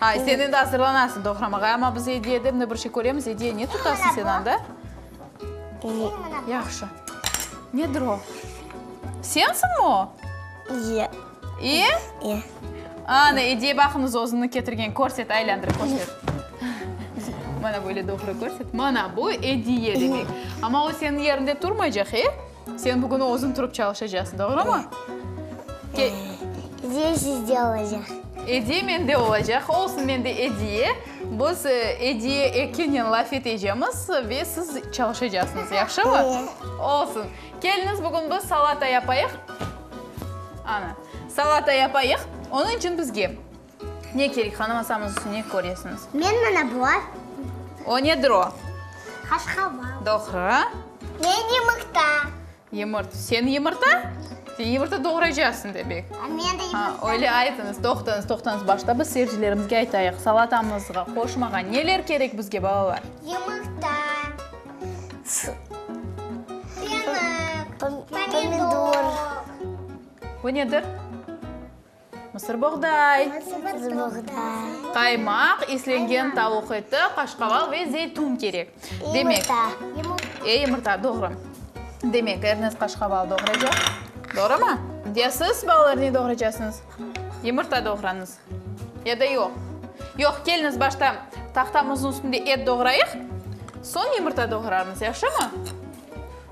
Ha, sen endi azırlanasıñ doğramağa, amma biz Ediye dep bir şey köremiz, Ediye, ne tutasıñ sen anda? Yahşı. Nedir o? Sensiñmi o? Ye. İ? İ. Ana, Ediye baqıñız, özüni ketirgen, körset, aylandırıp körset. Mana böyle doğru körset. Mana bu Ediye demek. Amma o seniñ yerinde turmaycaq, e? Sen bugün özün turıp çalışacaqsıñ, doğrumı? Ke- Ediye sizde olacaq. Ediye mende olacaq. Olsun, mende ediye. Biz e, ediye ekenen laf etecemiz ve siz çalışacaqsıñız, yahşımı? Eye. Olsun. Keliniz bugün biz salata yapayıq. Ana, salata yapayıq. Onun için bizge Ne kerek, hanım asamız içün ne köresiñiz? Men mana bular. O nedir o? Qaşqaval. Doğru. Men yımırta. Yımırt, sen yımırta? Sen yımırta doğraycaqsıñ demek. Men de yımırta. Ha, öyle aytıñız. Toqtañız, toqtañız. Başta biz seyircilerimizge aytayıq, salatamızğa, qoşmağa neler kerek bizge, balalar? Yımırta, fenık, pomidor. Bu nedir? Mısır boğday. Mısır boğday. Qaymaq, islengen tavuq eti, qaşqaval ve zeytun kerek. Demek. Yumurta. E, yumurta, doğru. Demek, Ernest qaşqaval doğraycaq. Doğrumı? Ya siz, balalar, ne doğraycaqsıñız? Yumurta doğrañız. Ya da yoq. Yoq, keliñiz, başta tahtamıznıñ üstünde et doğrayıq, soñ yumurta doğrarmız, yahşımı?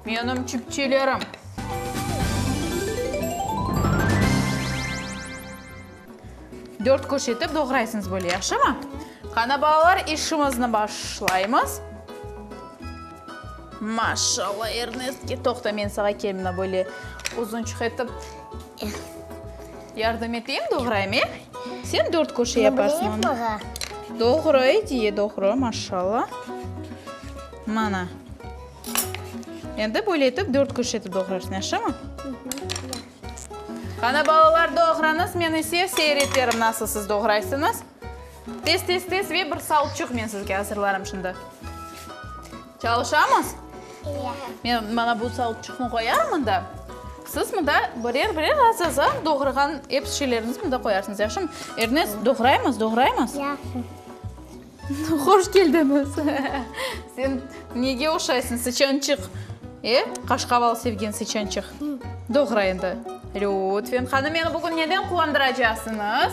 Menim çipçilerim. Dört köş etip doğraysıñız böyle, yahşımı? Qana, balalar, işimizni başlaymız. Maşallah, Ernestke. Toqta, men sağa kelmine böyle uzunçıq etip yardım eteyim, doğrayım, e? Sen dört köşe yaparsıñ. Doğru, ediye, doğru, maşallah. Mana. Endi böyle etip dört küşt etip doğrarsıñ, yaşımı? Qani, balalar, doğrañız, men ise seyir eterim, nasıl siz doğraysıñız. Tez, tez, tez ve bir salçıq men sizge azırlarım şimdi. Çalışamız? Men mana bu salçıqnı qoyarım mında. Siz mında birer, birer az, az, az doğrağan ep şeylerniñizni mında qoyarsıñız, yaşımı? Ernest, doğraymız, doğraymız? Yaxşı. Hoş keldiñiz! Sen nege oşaysıñ, sıçançıq! E, qaşqaval sevgen sıçançıq! Doğra endi. Lütfen, qani, meni bugün neden quvandıracaqsıñız?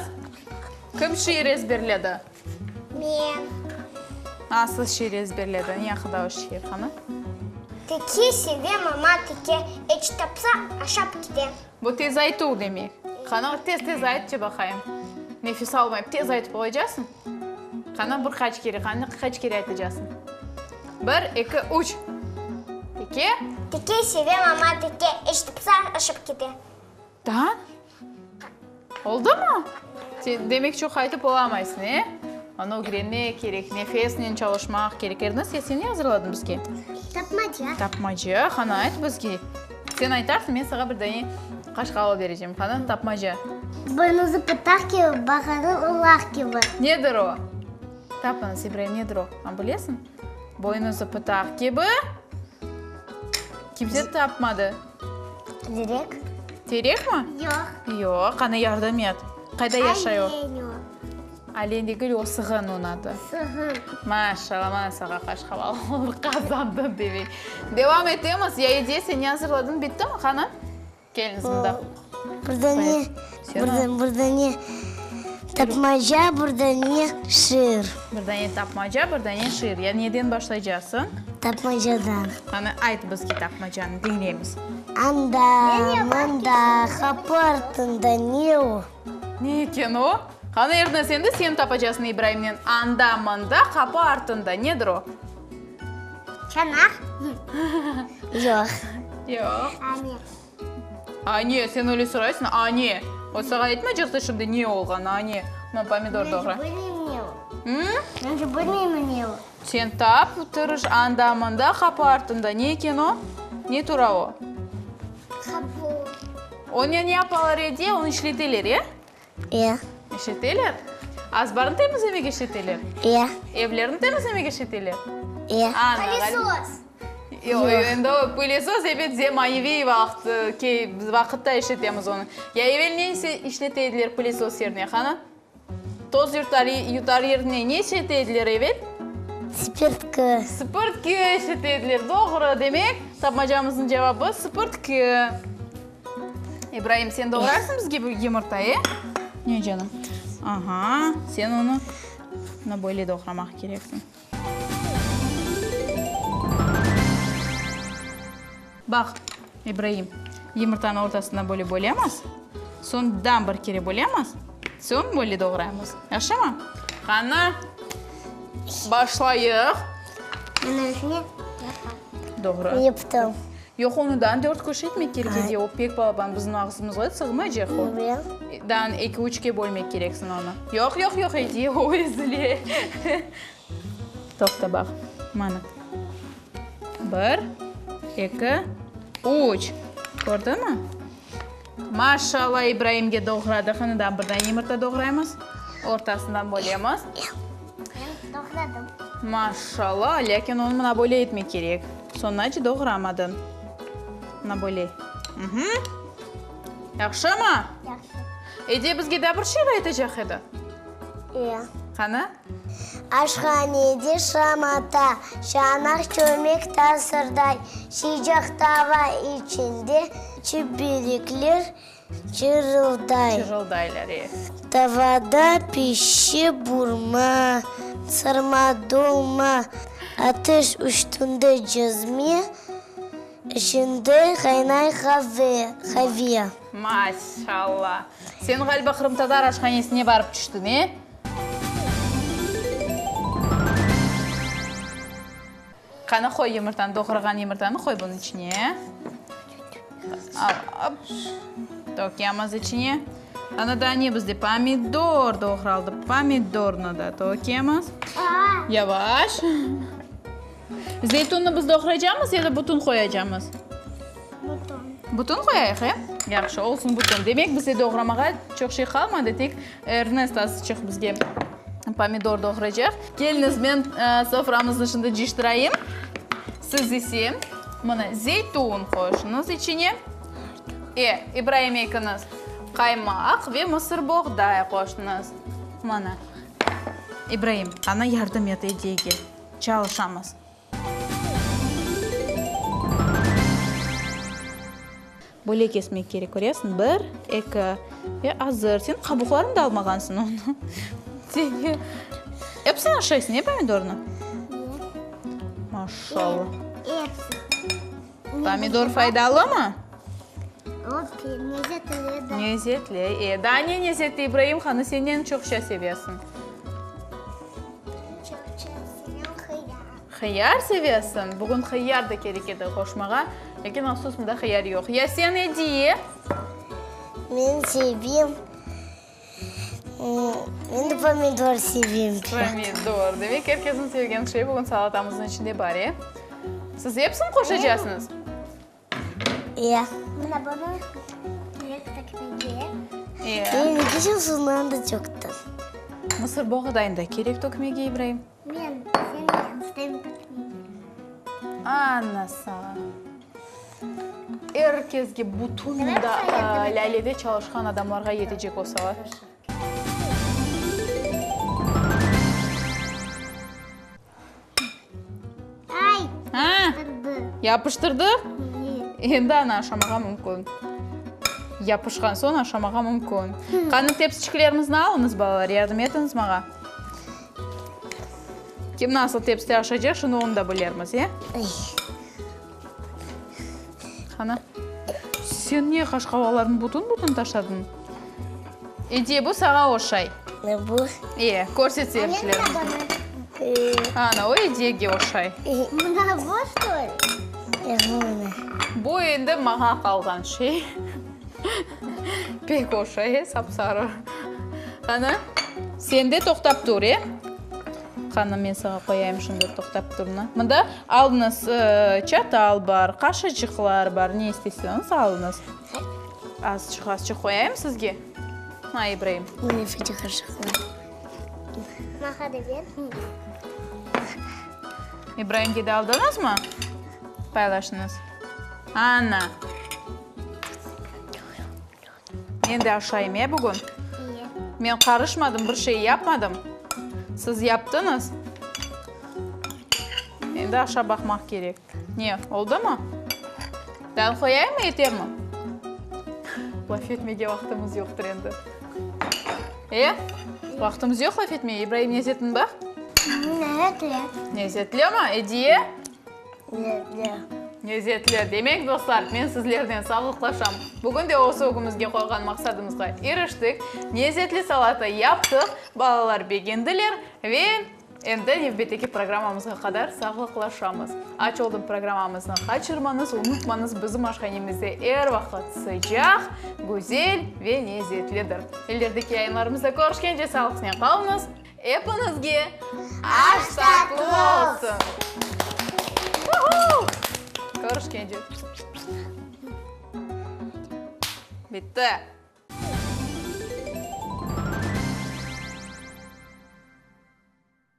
Kim şiir ezberledi? Men. A, siz şiir ezberledi. Ne aqıda o şiir, qani? Teke seve mama teke, eç tapsa, aşap kite. Bu tez aytuv demek. Qani, tez-tez ayt, ce baqayım. Nefes almayıp, tez aytıp olaycaqsıñ. Qana bir qaç kere, qana qaç kere aytacaqsıñ? Bir, eki, üç. Teke? Teke seve mama teke, eşitipsa ışıp kete. Da? Oldumı? Sen demek çoq aytıp olamaysıñ, e? Anı ögrenmek kerek, nefesnen çalışmaq kerek. Ernest, ya sen ne azırladın bizge? Tapmaca. Tapmaca, qana ayt bizge. Sen aytarsıñ, men saña bir dane qaşıq alıp berecem, qana, tapmaca. Boynuzı pıtaq kibi, baqanı ulaq kibi. Nedir o? Tap anı, Sebiray, nedir o? A bilesiñ? Boynuzı pıtaq kibi. Kimse tapmadı. Direk. Terekmi? Yoq. Yoq, qana, yardım et. Qayda yaşay o? Aleniy o. Alendegül o sığın onı adı. Sığın. Maşallah mana sağa qaç haval oldı qazandın demek. Devam etemiz ya ediye sen ne azırladın bitti mi qanı? Keliniz mında. Burada ne? Burada burada ne? Tapmaca burada ne? Şiir. Burada ne tapmaca burada ne şiir. Ya neden başlaycasın? Tapmacadan. Qanı ayt bizge tapmacanı diylemiz. Anda mında hapartında ne o? Ne eken o? Qani, er narseni sen tapacaqsıñ İbraimnen anda-mında, qapı artında. Nedir o? Çanaq. Yoq. Yoq. Ane. Ane, sen öyle soraysıñ, ane. O sağa aytmaycaqtı şimdi ne olğanı, ane. Mına pomidor doğra. Mence, bilmeyim ne o. Mence, bilmeyim ne o. Sen tap, tırış, anda, mında, qapı artında. Ne eken o? Ne tura o? Qapı. Onı ne yapalar edi? Onı işleteler, e? E. İşleteler? Azbarnı temizlemek işleteler? E. Evlerni temizlemek işleteler? E. Ana, ğal- Pılesöz. Yoq, Yoq. endi o pılesöz, ebet, zemaneviy vaqıt, e, key, vaqıtta işletemiz onı. Ya evel ne ise işlete ediler pılesöz yerine, qana? Toz yurtari yutar yerine ne işete ediler, evet? Sipirtki. Sipirtki işete ediler, doğru. Demek, tapmacamıznıñ cevabı, sipirtki. İbraim, sen doğrarsıñ bizge bir yımırta, e? Ne, canım? Aha, sen onı, mına böyle doğramaq kereksiñ. Baq, İbraim, yımırtanı ortasına böyle bölemiz, soñ daa bir kere bölemiz, soñ böyle doğraymız. Yahşımı? Qani, başlayıq. Bunıñ içine yapa. Doğru. Yaptım. Yoq, onı dan dört kişi etmek kerek edi, o pek balaban, bizim ağzımızğa sığmaycaq o. Dan eki-üçke bölmek kereksiñ onı. Yoq, yoq, yoq, edi, o ezile. Toqta, baq, mana. Bir, eki, üç. Kördiñmi? Maşallah, İbraimge doğradığını da bir dane yımırta doğraymız, ortasından bölemiz. Ben doğradım. Maşallah, lâkin onı mına böyle etmek kerek. Soñunca doğramadın. Mına böyle. Uhmm. Yahşımı? Yahşı. Ediye bizge de bir şiir aytacaq edi. İyi. Qani? Aşhanede şam ata, çanaq çömek tasırday, Sıcaq tava içinde çiberikler çırılday. Çırıldaylar, e. Tavada pişi burma, sırma, dolma, Ateş üstünde cezme, içinde qaynay qave, qave. Maşallah! Sen, ğaliba, qırımtatar aşhanesine barıp tüştiñ, e? Qani, qoy yumurtanı, doğrağan yumurtanı qoy bunıñ içine. Tökemiz içine. Ana, daa ne bizde? Pomidor doğraldı. Pomidornı da tökemiz. Yavaş. Zeytunnı biz doğraycamız ya da bütün qoyacamız? Bütün. Bütün qoyayıq, e? Yahşı, olsun bütün. Demek, bize doğramağa çoq şey qalmadı, tek Ernest azıçıq bizge pomidor doğraycaq. Keliniz, men soframıznı şimdi ciştirayım. Siz ise mına zeytun qoyuşıñız içine. E, İbraim ekiñiz qaymaq ve mısır boğday qoştıñız. Mana, İbraim, ana yardım et, edigil. çalışamız. Böyle kesmek kerek, köresiñ, bir, eki, e, azır, sen qabuqlarını da almağansıñ onı. Seni, epsini aşaysıñ, e, pomidornı? Maşallah. Epsini. Pomidor faydalımı? Nezetli. E, daa ne nezetli, İbraim hanı, sen neni çoqça sevesiñ? Hıyar sevesiñ. Bugün hıyar da kerek edi qoşmağa. Lâkin, afsus, bunda hıyar yoq. Ya sen, Ediye? Men sevim. Men de pomidor sevem çoq. Pomidor, demek, er kesniñ sevgen şey bugün salatamıznıñ içinde bar, e? Siz episini qoşacaqsıñız? Ya. Mına bunı direkt tökmege. Ya. Menimki şundan da çoqtır. Mısır boğdayını da kerek tökmege, İbraim? Men seni istem tutmayım. Ana saña. Er kezge bütün mında Lâlede çalışqan adamlarğa yetecek olsalar. Ay, yapıştırdı. Yapıştırdı? Endi anı aşamağa mümkün. Yapışqan soñ aşamağa mümkün. Qani, tepsiçiklerimizni alıñız, balalar, yardım etiñiz maña. Kim nasıl tepside aşacaq, şimdi onı da bilermiz, e? Qana, sen niye qaşqavalarnı bütün-bütün taşladın? Ediye, bu saña oşay. Bu? E, körset seyircilerimiz. Ana, o Ediyege oşay. Mına bu, ştoli? Bu endi maña qalğan şey. Pek oş, e, sap-sarı. Qanı, sen de toqtap tur, e. Qanı, men saña qoyayım şunda toqtap turnı. Mında alıñız, çatal bar, qaşıcıqlar bar, ne isteseñiz, alıñız. Azçıq, azçıq qoyayım sizge. Ha, İbraim. Mına şunca qaşıqlar. Mağa da ber. İbraimge de aldıñızmı? Paylaşıñız. Ana! Men de aşayım e bugün? İyi. Men qarışmadım, bir şey yapmadım. Siz yaptıñız. Endi aşa baqmaq kerek. Ne, oldumı? Dal qoyayım mı, yetermi? Laf etmege vaqtımız yoqtır endi. E, vaqtımız yoq laf etmege. İbraim, lezetmi bax? Lezetli. Lezetli mi, Ediye? Lezzet. Lezzetli. Demek, dostlar, men sizlernen sağlıqlaşam. Bugün de öz ögümizge qoyğan maqsadımızğa iriştik. Lezzetli salata yaptıq, balalar begendiler ve endi nevbetteki programmamızğa qadar sağlıqlaşamız. Aç oldum programmamıznı qaçırmañız, unutmañız, bizim aşhanemizde er vaqıt sıcaq, güzel ve lezzetlidir. İlerdik yayınlarımızda körüşkence sağlıqnen qalıñız. Epiñizge aş tatlı olsun! Körüşkence! Bitti!